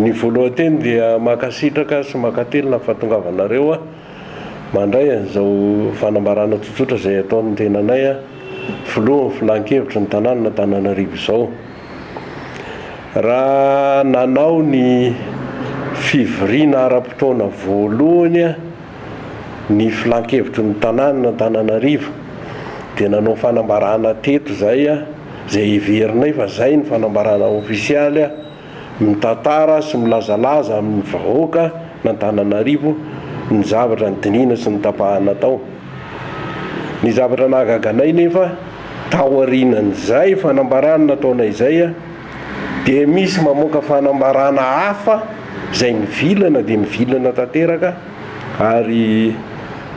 Ny voalohan-teny dia mankasitraka sy mankatelina ny fahatongavanareo aho mandray an'izao fanambarana tsotsotra izay ataon'ny tenanay aho, filohan'ny filan-kevitry ny tanànan'Antananarivo izao. Raha nanao ny fivoriana ara-potoana voalohany ny filan-kevitry ny tanànan'Antananarivo dia nanao fanambarana teto izay aho, izay heverinay fa izay ny fanambarana ofisialy. mitantara sy milazalaza amin'ny vahoaka an'Antananarivo ny zavatra nidinihina sy notapahana tao. Ny zavatra nahagaga anay nefa taorian'izay fanambarana nataonay izay dia misy mamoaka fanambarana hafa izay mivilana dia mivilana tanteraka ary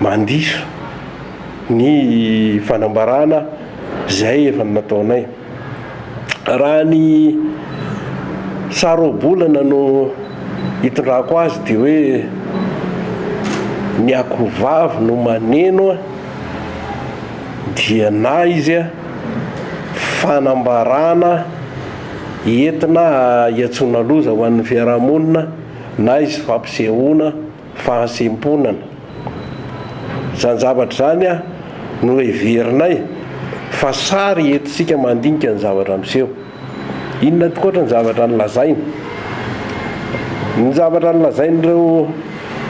mandiso ny fanambarana izay efa nataonay. Raha ny saro-bolana no itondrako azy dia hoe ny akohovavy no maneno dia na izy fanambarana entina hiantsoana loza ho an'ny fiarahamonina na izy fampisehoana fahasempona-na. Izany zavatra izany a no heverinay fa sary entintsika mandinika ny zavatra miseho. Inona ankoatra ny zavatra nolazainy? Ny zavatra nolazain'ireo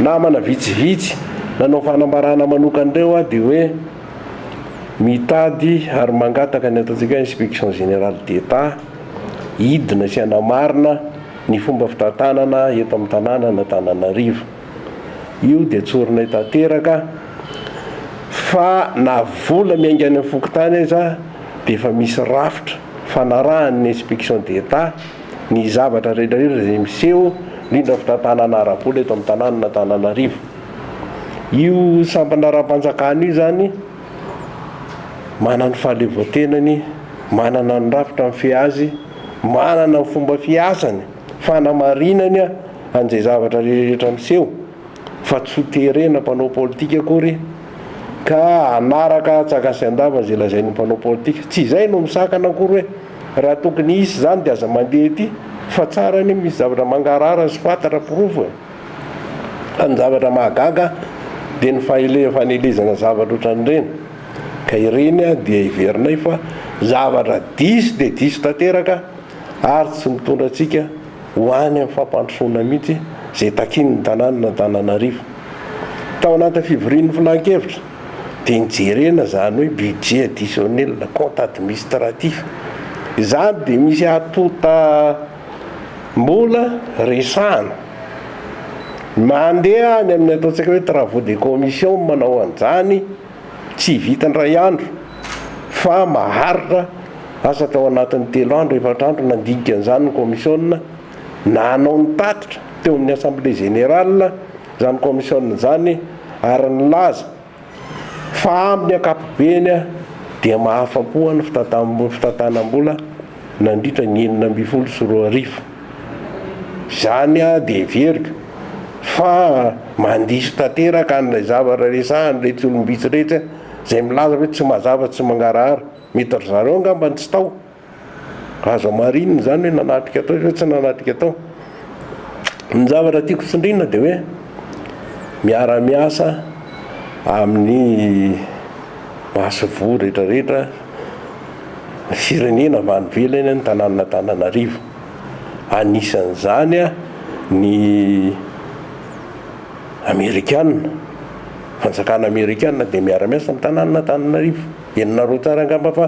namana vitsivitsy nanao fanambarana manokana ireo a dia hoe mitady ary mangataka ny ataontsika hoe inspection générale d'Etat hidina sy hanamarina Ny fomba fitantanana eto amin'ny tanànan'Antananarivo. Io dia tsorinay tanteraka fa na vola miainga any amin'ny fokontany aza dia efa misy rafitra fanarahan'ny inspection d'Etat ny zavatra rehetrarehetra izay miseho indrindra ny fitantanana ara-bola eto amin'ny tanànan'Antananarivo. Io sampana ara-panjakana io izany manana ny fahaleovantenany, manana ny rafitra mifehy azy. Manana ny fomba fiasany fanamarinany an'izay zavatra rehetra miseho fa tsy ho terena mpanao politika akory ka hanaraka tsakasin-dava izay lazain'ny mpanao politika. Tsy izay no misakana akory hoe raha tokony hisy izany dia aza mandeha ety fa tsara anie misy zavatra mangarahara sy fantatra porofo e! Fa ny zavatra mahagaga dia ny fanelezana zavatra ohatran'ireny. Ka ireny dia heverinay fa zavatra diso dia diso tanteraka ary tsy mitondra antsika ho any amin'ny fampandrosoana mihitsy izay takian'ny tanànan'Antananarivo. Tao anatin'ny fivorian'ny filan-kevitra dia nijerena izany hoe budget additionnel, compte administratif. Izany dia misy antontam-bola resahana. Mandeha any amin'ny ataontsika hoe travaux de commission no manao an'izany. Tsy vita indray andro fa maharitra asa tao anatin'ny telo andro, efatra andro nandinika an'izany ny kaomisiona na hanao ny tatitra teo amin'ny Assemblée Générale izany kaomisiona izany ary nilaza fa amin'ny ankapobeny dia mahafa-po ny fitantanam-bola. nandritra ny enina ambin'ny folo sy roa arivo. Izany dia heveriko fa mandiso tanteraka an'ilay zavatra resahan'iretsy olom-bitsy iretsy izay milaza hoe tsy mazava, tsy mangarahara. Mety ry zareo angamba no tsy tao. Azo hamarinina izany hoe nanatrika tao sa tsy nanatrika tao. Ny zavatra tiako tsindrina dia hoe miara miasa amin'ny masoivoho rehetra rehetra ny firenena avy any ivelany ny tananana Antananarivo anisan'izany a ny amerikana fanjakana amerikana dia miara miasa amin'ny tananana Antananarivo henonareo tsara angamba fa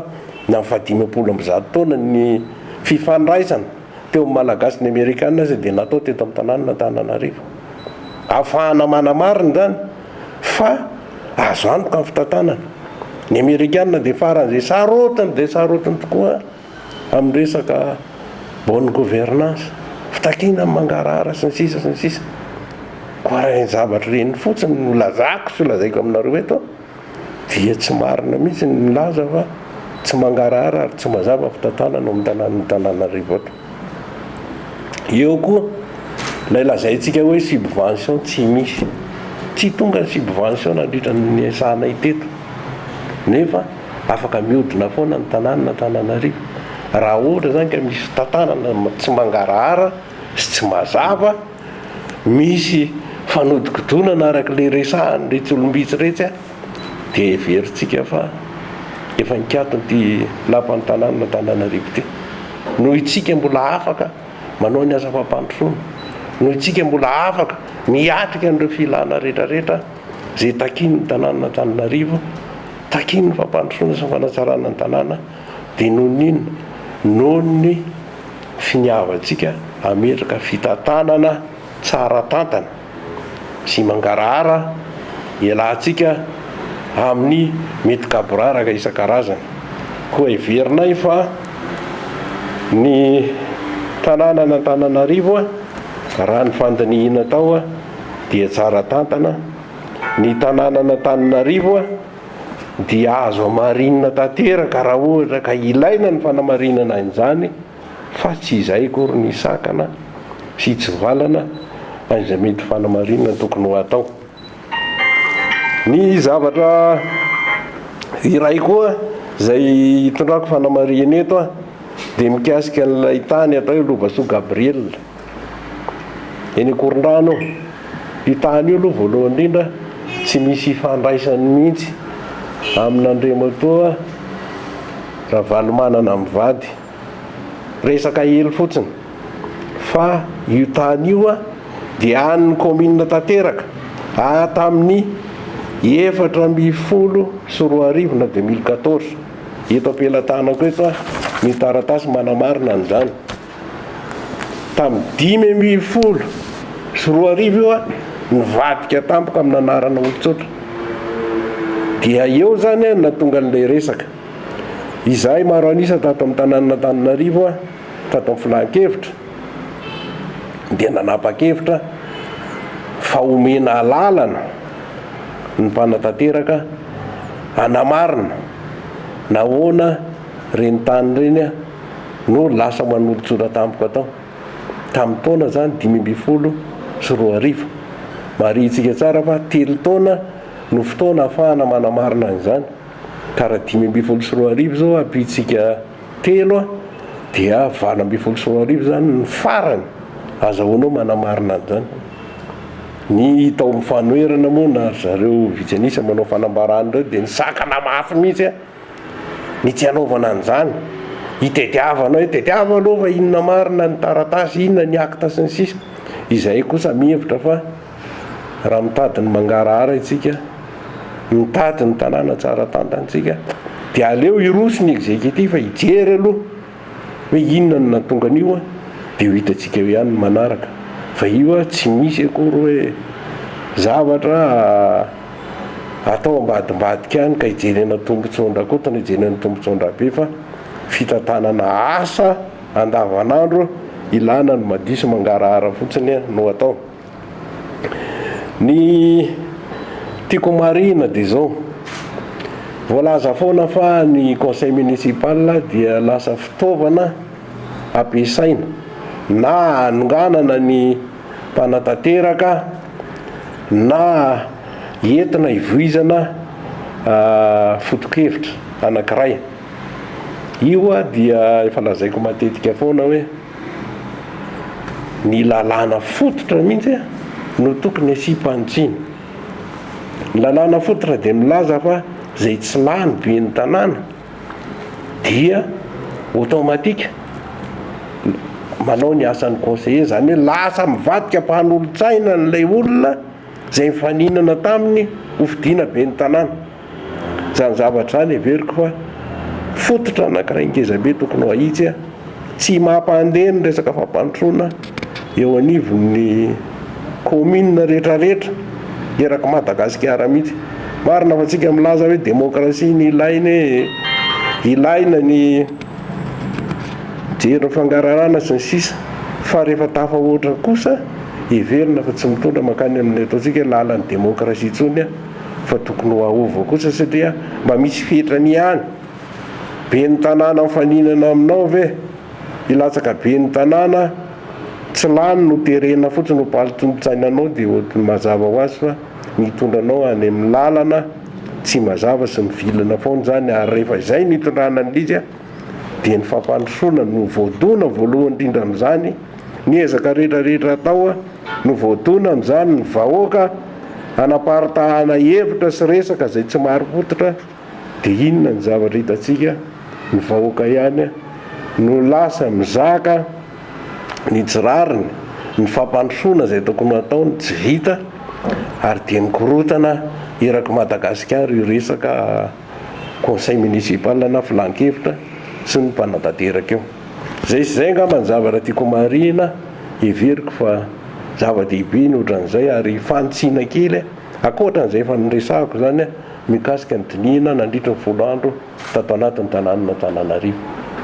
ny amin'ny faha dimampolo amby zato taona ny fifandraisana teo amin'ny Malagasy ny Amerikana aza dia natao teto amin'ny tanànan'Antananarivo. Afahana manamarina izany fa azo antoka ny fitantanana. Ny Amerikana dia faran'izay sarotiny dia sarotiny tokoa amin'ny resaka bonne gouvernance, fitakiana ny mangarahara sy ny sisa sy ny sisa. Koa raha ireny zavatra ireny fotsiny no lazako sy lazaiko aminareo eto. dia tsy marina mihitsy ny milaza fa tsy mangarahara ary tsy mazava fitantanana ao amin'ny tanànan'Antananarivo ato. Eo koa ilay lazaintsika hoe subvention tsy misy. Tsy tonga ny subvention nandritra ny niasanay teto nefa afaka mihodina foana ny tanànan'Antananarivo. Raha ohatra izany ka misy fitantanana tsy mangarahara sy tsy mazava, misy fanodikodonana araka ilay resahan'iretsy olom-bitsy iretsy a, dia heverintsika fa efa nikaton'ity lapan'ny tanànan'Antananarivo ity. Noho isika mbola afaka manao ny asa fampandrosoana, noho isika mbola afaka miatrika an'ireo filana rehetrarehetra izay takian'ny tanànan'Antananarivo, takian'ny fampandrosoana sy ny fanatsarana ny tanàna, dia noho ny inona? noho ny. finiavantsika hametraka fitantanana tsara tantana sy mangarahara ialahintsika amin'ny mety gaboraraka isan-karazany. Koa heverinay fa ny tanànan'Antananarivo, raha ny fandinihina tao, dia tsara tantana, ny tanànan'Antananarivo, dia azo hamarinina tanteraka raha ohatra ka ilaina ny fanamarinana an'izany fa tsy izay akory ny sakana sy tsy valana an'izay mety ho fanamarinana tokony ho atao. Ny zavatra iray koa izay hitondrako fanamariana eto dia mikasika an'ilay tany atao hoe Lovasoa Gabriel. eny Ankorondrano eo. Io tany io aloha voalohany indrindra tsy misy ifandraisany mihitsy amin'Andriamatoa Ravalomanana mivady. Resaka hely fotsiny. Fa io tany io dia an'ny kaominina tanteraka ary tamin'ny efatra ambin'ny folo sy roa arivo na deux mille quatorze. Eto am-pelatanako eto ny taratasy manamarina an'izany. Tamin'ny dimy ambin'ny folo sy roa arivo io aho nivadika tampoka amin'ny anarana olon-tsotra. Dia eo izany no nahatonga an'ilay resaka. Izahay maro an'isa tato amin'ny tanànan'Antananarivo, tato amin'ny filan-kevitra, dia nanapa-kevitra fa homena alalana ny mpanatanteraka hanamarina nahoana ireny tany ireny no lasa manolotsora tampoka tao, tamin'ny taona izany dimy ambin'ny folo sy roa arivo. Marihintsika tsara fa telo taona no fotoana ahafahana manamarina an'izany, ka raha dimy ambin'ny folo sy roa arivo izao ampiantsika telo dia valo ambin'ny folo sy roa arivo izany ny farany azahoanao manamarina an'izany. Ny tao amin'ny fanoherana moa na ry zareo vitsy an'isa manao fanambarana ireo dia nisakana mafy mihitsy. ny tsy hanaovana an'izany, hitediavana hoe tediavo aloha fa inona marina ny taratasy, inona ny acte sy ny sisa Izahay kosa mihevitra fa raha mitady ny mangarahara isika, mitady ny tanàna tsara tantantsika dia aleo hiroso ny executif hijery aloha, Hoe inona no nahatonga an'io dia ho hitantsika eo ihany ny manaraka fa io tsy misy akory hoe zavatra atao ambadimbadika any ka hijerena tombontsoan-dRakotana hijerena tombontsoan-dRabe fa fitantanana asa andavanandro ilana ny madiso mangarahara fotsiny no atao. Ny tiako homarihina dia izao, voalaza foana fa ny conseil municipal dia lasa fitaovana ampiasaina na hanonganana ny mpanatanteraka na entina hivoizana foto-kevitra anankiray. Io dia efa lazaiko matetika foana hoe. Ny lalàna fototra mihitsy no tokony asiam-panitsiana. Ny lalàna fototra dia milaza fa izay tsy lany ben'ny tanàna dia automatique manao ny asan'ny conseiller, izany hoe lasa mivadika mpanolotsaina an'ilay olona izay mifaninana taminy hofidiana ben'ny tanàna. Izany zavatra izany heveriko fa fototra anankiray ngezabe tokony ho ahitsy a! Tsy mampandeha ny resaka fampandrosoana eo anivon'ny kaominina rehetrarehetra erak'i Madagasikara mihitsy. Marina fa tsika milaza hoe demokrasia ny ilaina e! Ilaina ny mijery ny fangarahana sy ny sisa fa rehefa tafahoatra kosa heverina fa tsy mitondra mankany amin'ny ataontsika hoe lalan'ny demokrasia intsony a! fa tokony ho aova kosa satria mba misy fetrany ihany, ben'ny tanàna mifaninana aminao ve hilatsaka ben'ny tanàna, tsy lany no terena fotsiny ho palitsontsainanao dia ohatry ny mazava ho azy fa mitondra anao any amin'ny lalana tsy mazava sy mivilana foana izany ary rehefa izay no hitondrana an'lija dia ny fampandrosoana no voadona voalohany indrindra amin'izany, Ny ezaka rehetrarehetra atao no voadona amin'izany ny vahoaka hanaparitahana hevitra sy resaka izay tsy marim-pototra dia inona ny zavatra hitantsika? Ny vahoaka ihany no lasa mizaka ny tsy rariny, ny fampandrosoana izay tokony hataony tsy vita ary dia mikorontana erak'i Madagasikara io resaka conseil municipal na filan-kevitra sy ny mpanatanteraka io. Izay sy izay angamba ny zavatra tiako homarihina, heveriko fa zava-dehibe ny ohatran'izay ary fanitsiana kely ankoatra an'izay efa noresahako izany mikasika ny dinihina nandritry ny folo andro tato anatin'ny tanànan'Antananarivo.